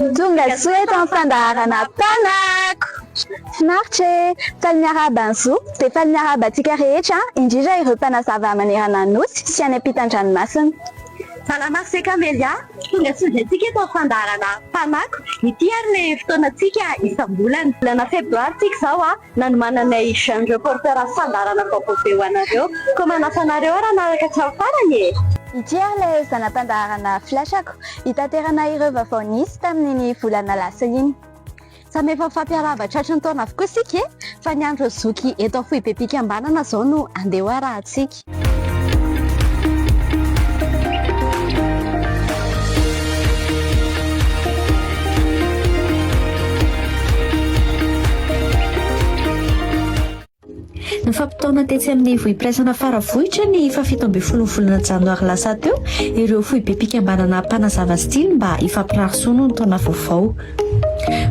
Ny tonga soa eto amin'ny fandaharana Mpanako! Finaritra e! Faly miarahaba an'i Zo, dia faly miarahaba antsika rehetra, indrindra ireo mpanazava manerana ny Nosy sy any ampitan-dranomasina. Salama ry Camelia! Tonga soa indray tsika eto amin'ny fandaharana Mpanako! Ity ary ilay fotoanantsika isam-bolana. Volana febroary tsika izao an! Nanomananay jeune reporter fandaharana vaovao be ho anareo koa manasa anareo ary hanaraka hatramin'ny farany e! Ity ary ilay zana-pandaharana Flash-ko hitaterana ireo vaovao nisy tamin'iny volana lasa iny. Samy efa mifampiarahaba tratry ny taona avokoa isika e! Fa ny andro zoky eto Amfohibe-Pikambanana izao no andeha ho arahantsika. Nifampitaona tetsy amin'ny vohim-piraisana Faravohitra ny fahafito ambin'ny folo volana janoary lasa teo ireo foibem-pikambanana mpanazava style mba hifampirary soa noho ny taona vaovao.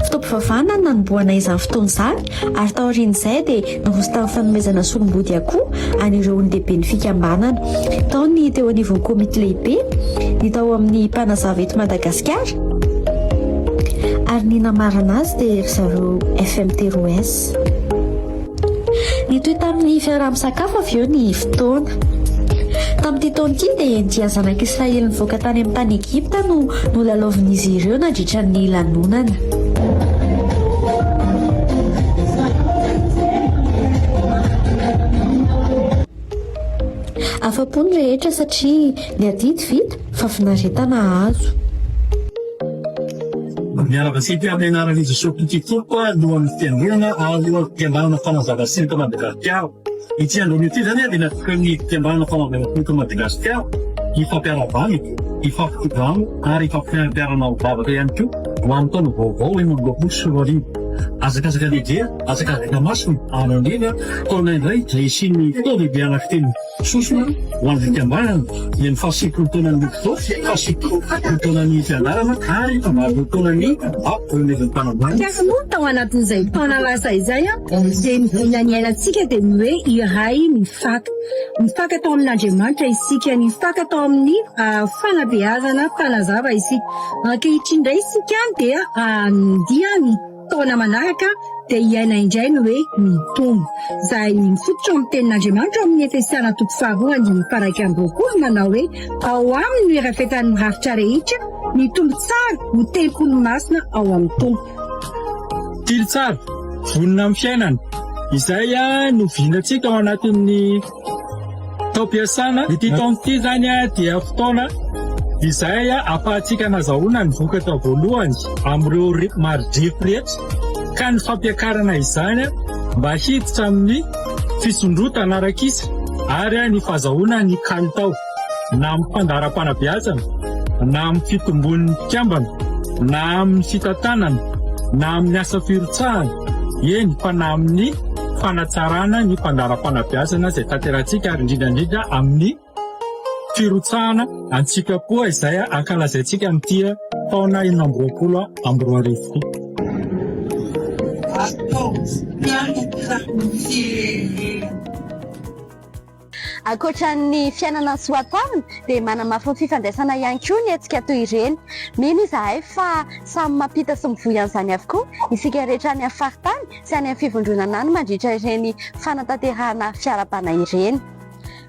Fotoam-pivavahana no nanombohana izany fotoana izany ary taorian'izay dia niroso tamin'ny fanomezana solom-body akoho an'ireo olon-dehiben'ny fikambanana. Tao ny teo anivon'ny komity lehibe, ny tao amin'ny Mpanazava eto Madagasikara ary ny namarana azy dia ry zareo FMT Roes. Nitohy tamin'ny fiaraha-misakafo avy eo ny fotoana. Tamin'ity taona ity dia dia zanak'Israely nivoaka tany amin'ny tany Egypta no nolalaovin'izy ireo nandritra ny lanonana. Afa-po ny rehetra satria ny adidy vita fa finaretana azo. Miarahaba sy mpiara-mianara an'i Jesoa Kristy Tompo alohan'ny fiangonana ary alohan'ny fikambanana Fanazava Siny eto Madagasikara. Ity andron'io ity izany dia natokany ny fikambanana Fanazava Siny eto Madagasikara hifampiara-bana, hifampikodana ary hifampiara-manao vavaka ihany koa ho amin'ny taona vaovao enina amby roapolo sy roa arivo. Hazakazaka lehibe. latsaka avy Tamasina ary andrena taona indray izay hisian'ny fotoam-bebe anakitelo sosona ho an'ny fikambanana dia ny fahasivifolo taonan'ny Luxoc, fahasivifolo taonan'ny Fianarana ary fahavalopolo taonan'ny Bap Reunion'ny Mpanambady. Kanefa moa tao anatin'izay taona lasa izay dia ny voina niainantsika dia ny hoe iray mifaka. Mifaka tao amin'Andriamanitra isika, nifaka tao amin'ny fanabeazana mpanazava isika. Ankehitriny indray isika dia handihy ny Taona manaraka dia hiaina indray ny hoe mitombo. Izay mifototra amin'ny tenin'Andriamanitra ao amin'ny Efesiana toko faharoa andininy faharaika amby roapolo manao hoe ao aminy no irafetan'ny rafitra rehetra, ny tombo tsara ho tempoly masina ao amin'ny Tompo. Tily tsara, vonona amin'ny fiainana. Izay no vinantsika ao anatin'ny. Taom-piasana, ity taona ity izany dia fotoana izay ahafahantsika nazahoana ny vokatra voalohany amin'ireo mari-drefy rehetra ka ny fampiakarana izany mba hiditra amin'ny fisondrotana ara-kisa ary ny fahazahoana ny kalitao. na amin'ny fandaharam-panabeazana, na amin'ny fitombon'ny mpikambana, na amin'ny fitantanana, na amin'ny asa firotsahana, eny fa na amin'ny fanatsarana ny fandaharam-panabeazana izay tanterahintsika ary indrindra indrindra amin'ny firotsahana an-tsitrapo izay ankalazaintsika amin'ity taona enina amby roapolo amby roa arivo ity. Ataovy mpianatra ny firenena. Ankoatra ny fiainana ny soatoavina dia manamafy ny fifandraisana ihany koa ny hetsika toy ireny. Mino izahay fa samy mampita sy mivoy an'izany avokoa isika rehetra any amin'ny faritany sy any amin'ny fivondronana any mandritra ireny fanatanterahana fiarahabana ireny.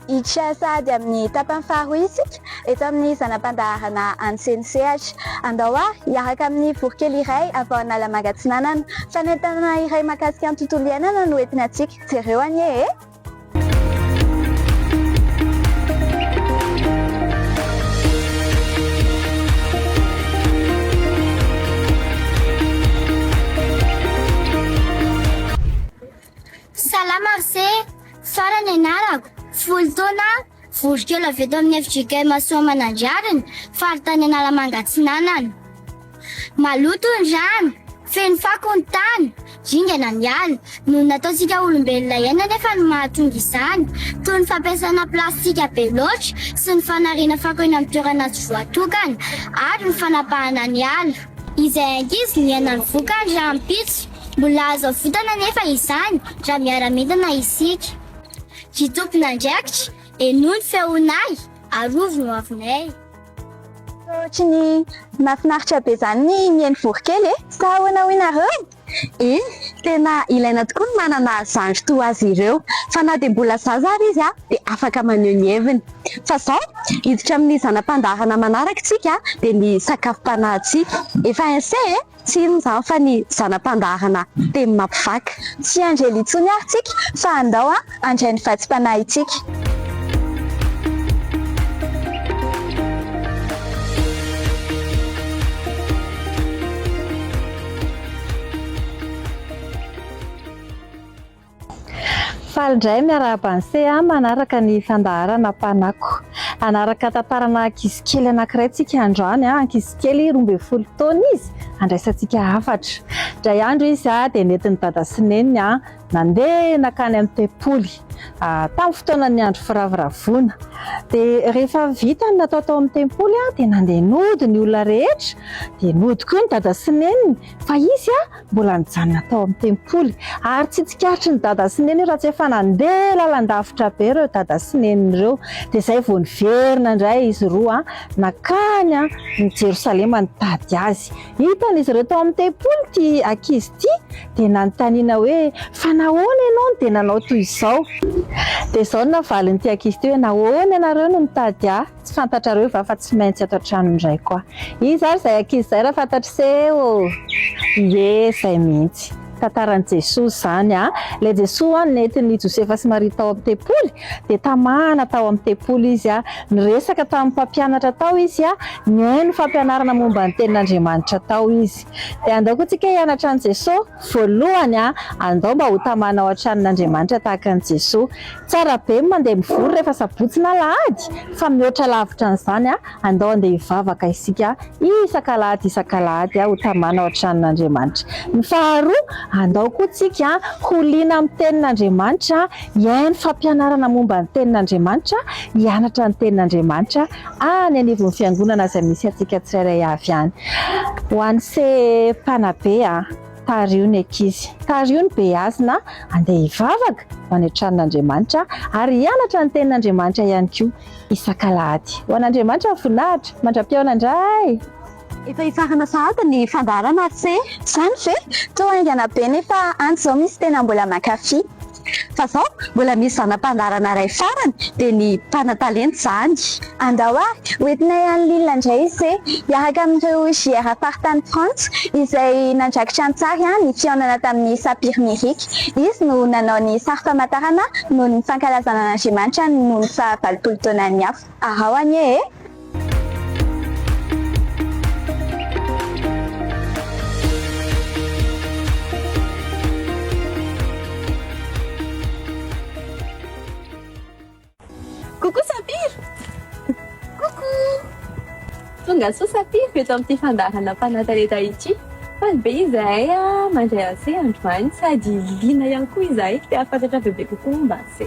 Hiditra sahady amin'ny tapany faharoa isika eto amin'ny zana-pandaharana any Senisehatra. Andao ary hiaraka amin'ny voronkely iray avy ao Analamanga Atsinanana. Fanentanana iray mahakasika ny tontolo iainana no entinantsika. Jereo anie e! Salama ry se, Sara ny anarako, folo taona aho, Vory kely avy eto amin'ny FJK Masoamanandrariny, faritany Analamanga Atsinanana. Maloto ny rano, feno fako ny tany, ringana ny ala. Noho ny nataontsika olombelona iaina anefa no mahatonga izany, toy ny fampiasana plastika be loatra sy ny fanariana fako eny amin'ny toerana tsy voatokana ary ny fanapahana ny ala. Izay ankizy niaina ny vokany rahampitso. Mbola azo avotana anefa izany raha miara-mientana isika. Ry tompon'andraikitra, henoy ny feonay, arovy ny hoavinay. Ohatrin'ny mahafinaritra be izany ny mihaino voronkely e! Sa ahoana hoy nareo? Eny, tena ilaina tokoa ny manana zandry toa azy ireo, fa na dia mbola zaza ary izy dia afaka maneho ny heviny. Fa izao, hiditra amin'ny zana-pandaharana manaraka isika dia ny sakafom-panahintsika. Efa ensee e! Tsy inona izany fa ny zana-pandaharana teny mampivaky. Tsy anjely intsony ary tsika fa andao handray ny vatsim-panahintsika. Faly indray miarahaba an'i Sea manaraka ny fandaharana Mpanako. Hanaraka tantara ana ankizy kely anankiray tsika androany. Ankizy kely roa ambin'ny folo taona izy, handraisantsika hafatra. Indray andro izy dia nentin'i Dada sy Neny nandeha nankany amin'ny tempoly, tamin'ny fotoanan'ny andro firavoravoana. Dia rehefa vita ny natao tao amin'ny tempoly dia nandeha nody ny olona rehetra, dia nody koa ny Dada sy Neny. Fa izy mbola nijanona tao amin'ny tempoly, ary tsy tsikaritry ny dada sy neny io raha tsy efa nandeha lalandavitra be ireo dada sy neny ireo. Dia izay vao niverina indray izy roa nankany amin'i Jerosalema nitady azy. Hitan'izy ireo tao amin'ny tempoly ity ankizy ity, dia nanontaniana hoe, Fa nahoana ianao no dia nanao toy izao? Dia izao no navalin'ity ankizy ity hoe, Nahoana ianareo no nitady ahy? Tsy fantatrareo va fa tsy maintsy ato an-trano indray koa izy ary izay ankizy izay raha fantatr'iseo ie izay mihitsy. Tantaran'i Jesoa izany a! Ilay Jesoa ho'a nentin'i Josefa sy Maria tao amin'ny tempoly dia tamahana tao amin'ny tempoly izy a! Niresaka tamin'ny mpampianatra tao izy a! Nihaino fampianarana momba ny tenin'Andriamanitra tao izy. Dia andao koa tsika hianatra an'i Jesoa. Voalohany a, andao mba ho tamana ao an-tranon'Andriamanitra tahaka an'i Jesoa. Tsara be ny mandeha mivory rehefa sabotsy na alahady, fa mihoatra lavitra an'izany a, andao handeha hivavaka isika isak'alahady isak'alahady ho tamana ao an-tranon'Andriamanitra. Ny faharoa, andao koa tsika ho liana amin'ny tenin'Andriamanitra, hihaino fampianarana momba ny tenin'Andriamanitra, hianatra ny tenin'Andriamanitra. any anivon'ny fiangonana izay misy antsika tsirairay avy any. Ho an'i se mpanabe a, tariho ny ankizy, tariho ny beazina handeha hivavaka ho any an-tranon'Andriamanitra ary hianatra ny tenin'Andriamanitra ihany koa isak'alahady. Ho an'Andriamanitra ny voninahitra, mandra-pihaonana indray! Efa hifarana sahady ny fandaharana ary tse. Zany ve? Toa haingana be nefa any zao misy tena mbola mankafy. Fa zao mbola misy zana-pandaharana ray farany dia ny mpanatalenta zany. Andao ary ho entinay any Lille ndray ise hiaraka amin'ireo JR faritany Frantsa izay nandrakitra an-tsary ny fihaonana tamin'i Sapir Mirik. Izy no nanao ny sary famantarana noho ny fankalazana an'Andriamanitra noho ny faha valopolo taonany hafa. Arao anie e! Coucou Sapir! Coucou! Tonga soa Sapir eto amin'ity fandaharana mpanatalenta ity. Faly be izahay mandray anse androany sady liana ihany koa izahay te-hahafantatra bebe kokoa momba anse.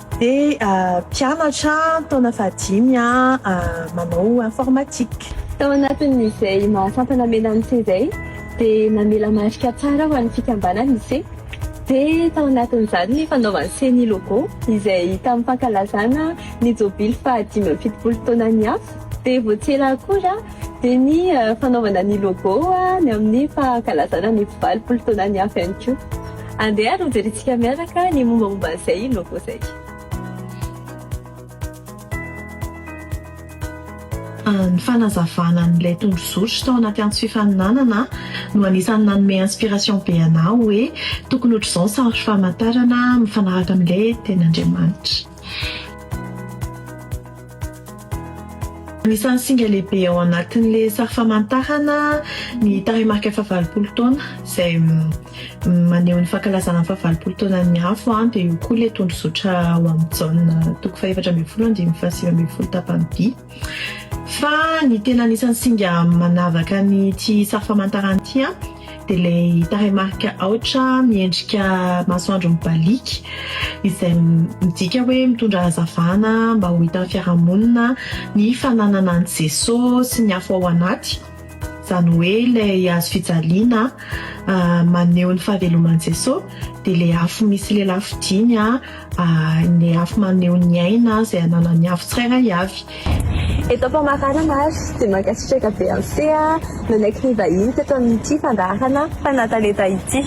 Dia mpianatra taona fahadimy manao informatique. Tao anatin'izay mahasampana hamela ny seza izay dia namela marika tsara ho an'ny fikambanana i se. Dia tao anatin'izany ny fanaovan'i se ny logo izay tamin'ny fankalazana ny jobily fahadimy amby fitopolo taonan'ny afo. Dia vao tsy ela akory dia ny fanaovana ny logo ny amin'ny fankalazana ny valopolo taonan'ny afo ihany koa. Andeha ary hojerentsika miaraka ny mombamomba an'izay logo izay. Ny fanazavana an'ilay tondrozotry tao anaty antso fifaninanana no anisan'ny nanome inspiration be anah hoe tokony ohatr'izao ny sary famantarana mifanaraka amin'ilay tenin'Andriamanitra. Anisan'ny singa lehibe ao anatin'ilay sary famantarana ny tarehimarika fahavalopolo taona izay maneho ny fankalazana ny fahavalopolo taonan'ny afo dia io koa ilay tondrozotra ao amin'ny Jaona toko fahefatra ambin'ny folo andininy fahasivy ambin'ny folo tapany vy. Fa ny tena anisan'ny singa manavaka an'ity sary famantarana ity an, dia ilay tarehimarika aotra miendrika masoandro mibaliaka, izay midika hoe mitondra hazavana mba ho hitan'ny fiarahamonina ny fananana an'i Jesoa sy ny afo ao anaty. izany hoe ilay hazo fijaliana maneho ny fahaveloman'i Jesosy, dia ilay afo misy lelafo dimy, ilay afo maneho ny aina izay ananan'ny afo tsirairay avy. Eto am-pamaranana ary dia mankasitraka be an'i Sea nanaiky nivahiny teto amin'ity fandaharana Fanatalenta ity.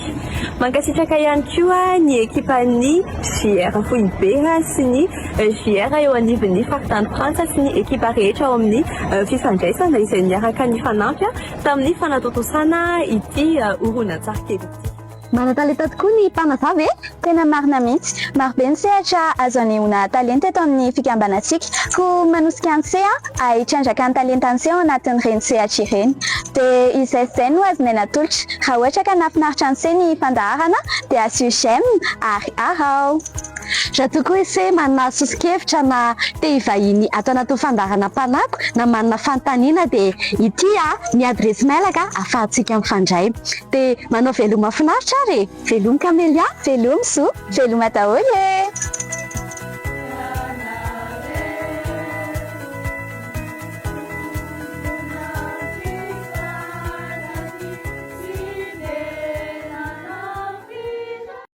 Mankasitraka ihany koa ny ekipan'ny JR Foibe sy ny. JR eo anivon'ny faritany Frantsa sy ny ekipa rehetra ao amin'ny fifandraisana izay niaraka nifanampy tamin'ny fanatontosana ity horonantsary kely ity. Manan-talenta tokoa ny mpanazava e! Tena marina mihitsy. Marobe ny sehatra azo anehoana talenta eto amin'ny fikambanantsika. Koa manosika an'i Sea ahay hitrandraka ny talentan'ise ao anatin'ireny sehatra ireny. Dia izay sy izay no azonay natolotra. Raha ohatra ka nahafinaritra an'ise ny fandaharana dia asio j'aime ary araho. Raha toa koa ise manana soso-kevitra na te hivahiny ato anatin'ny fandaharana Mpanako na manana fanontaniana dia ity ny adiresy mailaka ahafahantsika mifandray. Dia manao veloma finaritra ary e! Veloma Camélia, veloma Zo, veloma daholo e!